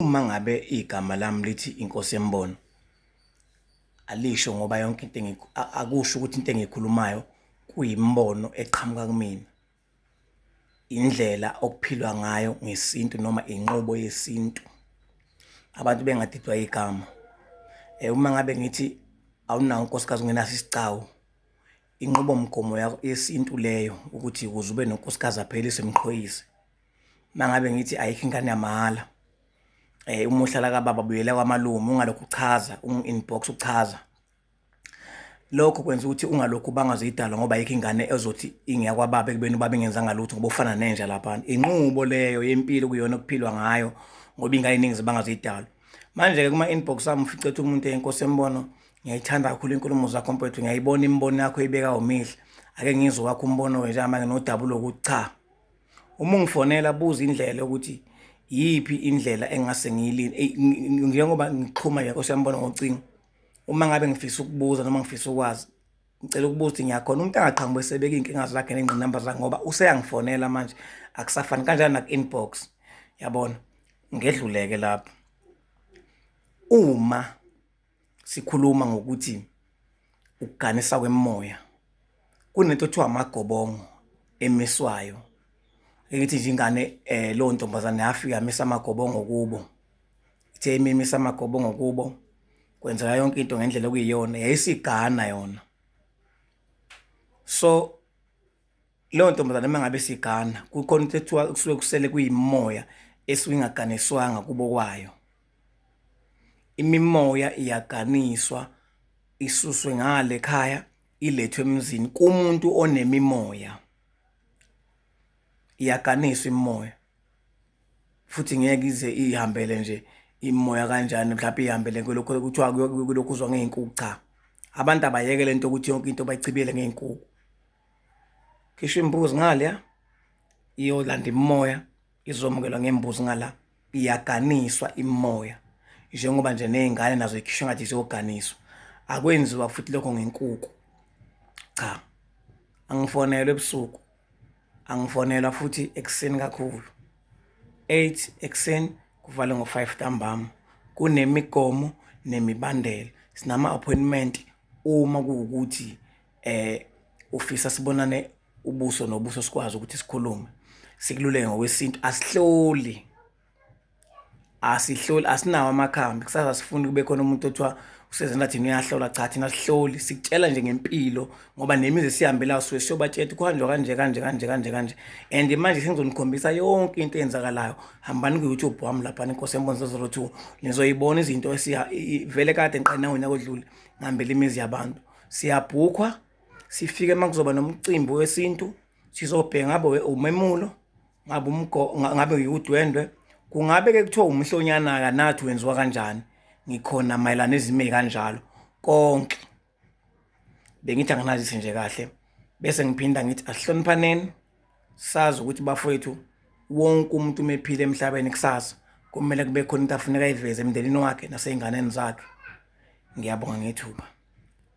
uma ngabe igama lami lithi inkosi embono alisho ngoba yonke into akusho ukuthi into engiyikhulumayo kuyimbono eqhamuka kumina indlela okuphilwa ngayo ngesintu noma inqobo yesintu abantu bengadidwa igama eh uma ngabe ngithi awunawo unkosikazi ungenaso isicawu inqubomgomo yesintu leyo ukuthi ukuze ube nonkosikazi aphelise mqhoyise mangabe ngithi ayikho ingane yamahhala eh uma uhlala kababa buyela kwamalume ungalokhu uchaza unginbox uchaza lokho kwenza ukuthi ungalokhu bangazidala ngoba ayikho ingane ezothi ingeyakwababa ekubeni ubaba ingenzanga lutho ngoba ufana nenja lapha inqubo leyo yempilo kuyona okuphilwa ngayo ngoba ingane iningi zibangazidala manje-ke kuma-inbox ami ufice ethi umuntu enkosi embono ngiyayithanda kakhulu inkulumo zakho mfowethu ngiyayibona imibono yakho ibeka umihle ake ngizwe wakho umbono wenje amake nodaba ulokuthi cha uma ungifonela buza indlela ukuthi yiphi indlela engase ngiyilini eh, njengoba ngixhuma nje nkosi yambona ngocingo uma ngabe ngifisa ukubuza noma ngifisa ukwazi ngicela ukubuza ukuthi ngiyakhona umuntu angaqhamuka esebeka iy'nkinga zakhe nengqinamba zakhe ngoba useyangifonela manje akusafani kanjani naku-inbox yabona ngedluleke lapho uma sikhuluma ngokuthi ukuganisa kwemoya kunento kuthiwa amagobongo emiswayo engithi nje ingane eh lo ntombazane yafika misa amagobongo kubo ithe imimisa amagobongo kubo kwenzeka yonke into ngendlela okuyiyona yayisigana yona so leyo ntombazane uma ngabe sigana kukhona into ekuthiwa kusuke kusele kuyimoya esuke ingaganiswanga kubo kwayo imimoya iyaganiswa isuswe ngale khaya ilethwe emzini kumuntu onemimoya iyaganiswa imimoya futhi ngeke ize ihambele nje imoya kanjani mhlawumbe ihambele kulokho kuthiwa kulokhu uzwa ngey'nkuku cha abantu abayeke le nto ukuthi yonke into bayichibiyele ngey'nkuku khishwa imbuzi ngale ya iyolanda imimoya izomukelwa ngembuzi ngala iyaganiswa imimoya njengoba nje nezingane nazo ikhishwa ngathi ziyoganiswa akwenziwa futhi lokho ngenkuku cha angifonelwe ebusuku angifonelwa futhi ekuseni kakhulu 8 ekuseni kuvale ngo-5 ntambama kunemigomo nemibandela sinama-appointment uma kuwukuthi um ufisa sibonane ubuso nobuso sikwazi ukuthi sikhulume sikululeke ngokwesintu asihloli asihloli asinawo amakhambi kusasa sifuni kube khona umuntu othiwa usezena thina uyahlola cha thina sihloli sikutshela nje ngempilo ngoba nemizi esihambela suke siyobatshela ukuthi kuhanjwa kanje kanje kanje kanje kanje and manje sengizonikhombisa yonke into eyenzakalayo hambani ku-youtube wami laphana inkosi embonisa zero two nizoyibona izinto vele kade ngiqanawonyaka odlule ngihambela imizi yabantu Siyabhukhwa sifike uma kuzoba nomcimbi wesintu sizobheka ngabe umemulo ngabe umgo ngabe uyudwendwe kungabe ke kuthiwa umhlonyana kanathi wenziwa kanjani ngikhona mayelana ezime kanjalo konke bengithi anginazise nje kahle bese ngiphinda ngithi asihloniphaneni sazi ukuthi bafowethu wonke umuntu umephile emhlabeni kusasa kumele kube khona into afuneka ayiveze emndenini wakhe nasey'nganeni zakhe ngiyabonga ngethuba